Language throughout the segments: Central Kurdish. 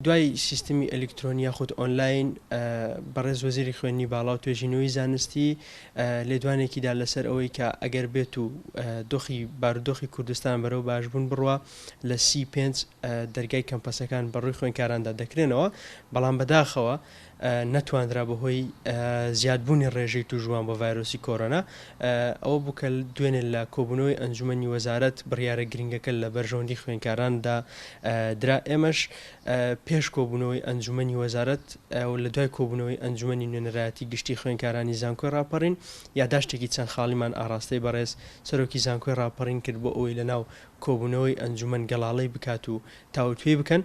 دوای سیستمی ئەلیکترۆنی یاخود ئۆنلاین بەڕێز وەزیری خوێنی باڵا و توێژینەوەی زانستی لێدوانێکیدا لەسەر ئەوەی کە ئەگەر بێت و دۆخی بارودۆخی کوردستان بەرەو باشبوون بڕە لە سی پێ دەرگای کەمپەسەکان بەڕووی خوێنکاراندا دەکرێنەوە بەڵام بەداخەوە لە نەتواندرا بەهۆی زیادبوونی ڕێژەی تووشبووان بە ڤایرۆسی کۆرۆنا ئەوە بوو کە دوێنێ لە کۆبوونەوەی ئەنجوومەنی وەزارەت بڕیارە گرنگەکە لە بەرژەوەندی خوێندکاراندا درا ئێمەش پێش کۆبوونەوەی ئەنجوومەنی وەزارەت و لە دوای کۆبوونەوەی ئەنجوومەنی نوێنەرایەتی گشتی خوێندکارانی زانکۆی ڕاپەڕین یاداشتێکی چەند خاڵیمان ئاراستەی بەڕێز سەرۆکی زانکۆی ڕاپەڕین کرد بۆ ئەوەی لەناو کۆبوونەوەی ئەنجوومەن گەڵاڵەی بکات و تاوتوێی بکەن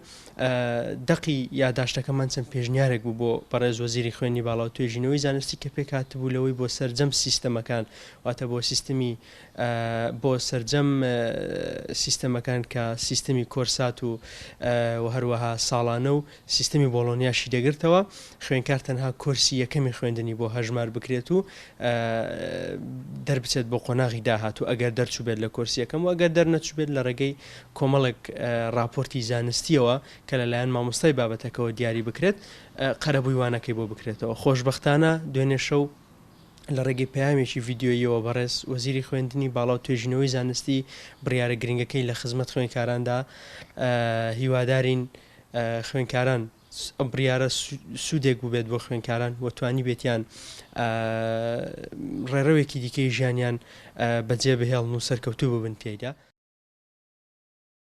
دەقی یاداشتەکەمان چەند پێشنیارێک بوو بۆ بەڕێز وەزیری خوێنی باڵا و توێژینەوەی زانستی کە پێک هاتبوو لەوەی بۆ سرجەم سیستەمەکان واتە بۆ سیستمی بۆ سرجەم سیستەمەکان کە سیستمی کۆرسات و هەروەها ساڵانە و سیستمی بۆڵۆنیاشی دەگرتەوە، خوێندکار تەنها کۆرسی یەکەمی خوێندنی بۆ هەژمار بکرێت و دەربچێت بۆ قۆناغی داهاتوو ئەگەر دەرچووبێت لە کۆرسی یەکەم و ئەگەر دەرنەچووبێت لە ڕێگەی کۆمەڵێک ڕاپۆرتی زانستیەوە کە لەلایەن مامۆستای بابەتەکەەوە دیاری بکرێت قەرەبووی وانەکەی بۆ بکرێتەوە خۆشببختانە دوێنێ شەو لە ڕێگەی پامێکی یددیویەوە بەڕێز وەزیری خوێندنی باڵا و توێژینەوەی زانستی بڕیارە گرنگەکەی لە خزمەت خوێنکاراندا هیوادارین خوێنکاران ئەم بڕیارە سوودێک بووبێت بۆ خوێنکاران و توانی بێتیان ڕێڕەوێکی دیکەی ژیانیان بەجێ بهێڵن و سەرکەوتوو ببن تێدا